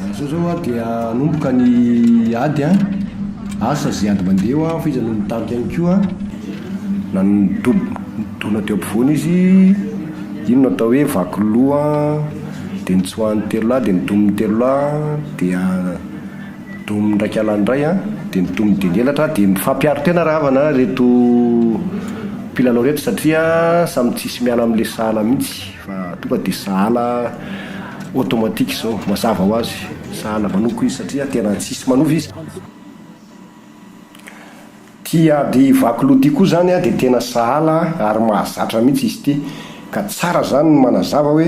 Amin'izao izao an dia hanomboka ny ady an, asa izay ady mandeha hoa fa izy no nitarika ihany koa na nidob- nidona teo ampovoany izy, iny no atao hoe vaky loha an, dia nitsoahan'ny telo lahy dia nitomin'ny telo lahy dia. Domin'ny ndraiky anah indray an, dia ny domin'ny dieny elatra an, dia mifampiaro tena ry havana ireto mpilalao ireto satria samy tsisy miala amin'ilay sahala mihitsy fa tonga dia sahala automatique izao, mazava ho azy, sahala manoko izy satria tena tsisy manova izy. Ity ady vaky loha ity koa izany dia tena sahala ary mahazatra mihitsy izy ity ka tsara izany ny manazava hoe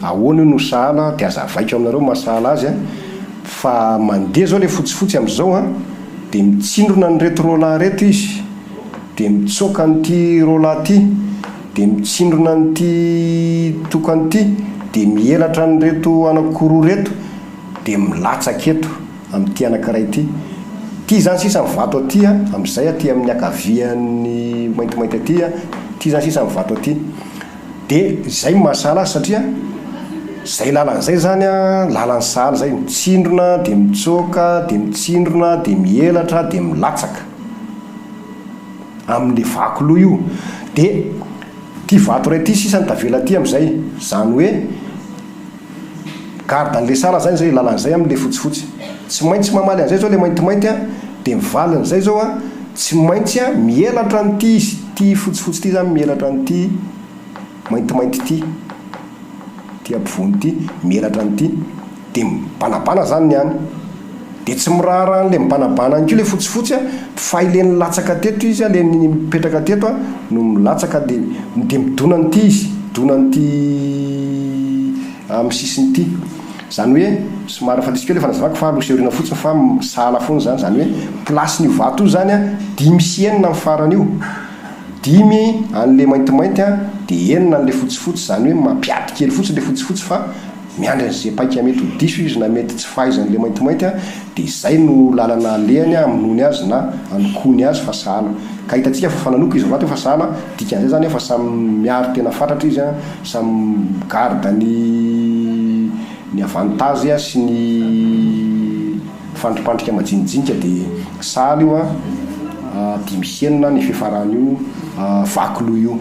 ahoana io no sahala dia azavaiko aminareo maha sahala azy fa mandeha izao ilay fotsifotsy amin'izao dia mitsindrona an'ireto roalahy ireto izy dia mitsoaka an'ity roalahy ity dia mitsindrona an'ity tokana ity dia mihelatra an'ireto anakiroa ireto dia milatsaka eto amin'ity anankiray ity. Ity izany sisa ny vato aty a, amin'izay aty amin'ny ankavian'ny maintimainty aty a, ity izany sisa ny vato aty. Dia izay no mahasahala azy satria izay lalana izay izany an, lalan'ny sahala izay, mitsindrona dia mitsoaka, dia mitsindrona, dia mihelatra, dia milatsaka, amin'ilay vaky loha io. Dia ity vato iray ity sisa no tavela aty amin'izay. Izany hoe. Garde anle sara zany zay lalany zay amle fotsifotsy tsy maintsy mamaly anzay zao le maintimainty a de ny valiny zay zao a tsy maintsy a mielatra an'ity izy ty fotsifotsy ty zany mielatra an'ity maintimainty ty ty ampovoany ty mielatra an'ity de mibanabana zany ny any Dia tsy miraharaha an'ilay mibanabana any koa ilay fotsifotsy a, fa ilay nilatsaka teto izy a, ilay nipetraka teto a, no milatsaka dia dia midona an'ity izy, midona an'ity amin'ny sisiny ity. Izany hoe, somary efa diso kely ilay fanazavako fa aloha sy aoriana fotsiny fa sahala foana izany. Izany hoe, place-n'io vato io izany a, dimy sy enina ny farany io. Dimy an'ilay maintimainty a, dia enina an'ilay fotsifotsy. Izany hoe mampiady kely fotsiny ilay fotsifotsy fa Miandry an'izay paika mety ho diso izy na mety tsy fahaizan'ilay maintimainty dia izay no lalana alehany hamonoany azy na hanokoany azy fa sahala. Ka hitantsika fa fa nanoko izy rahateo fa sahala, dikan'izay izany fa samy miaro tena fatratra izy, samy mi garde ny ny avantage sy ny fandripandrika majinijinika dia sahala io dimy sy enina ny fifaran'io vaky loha io.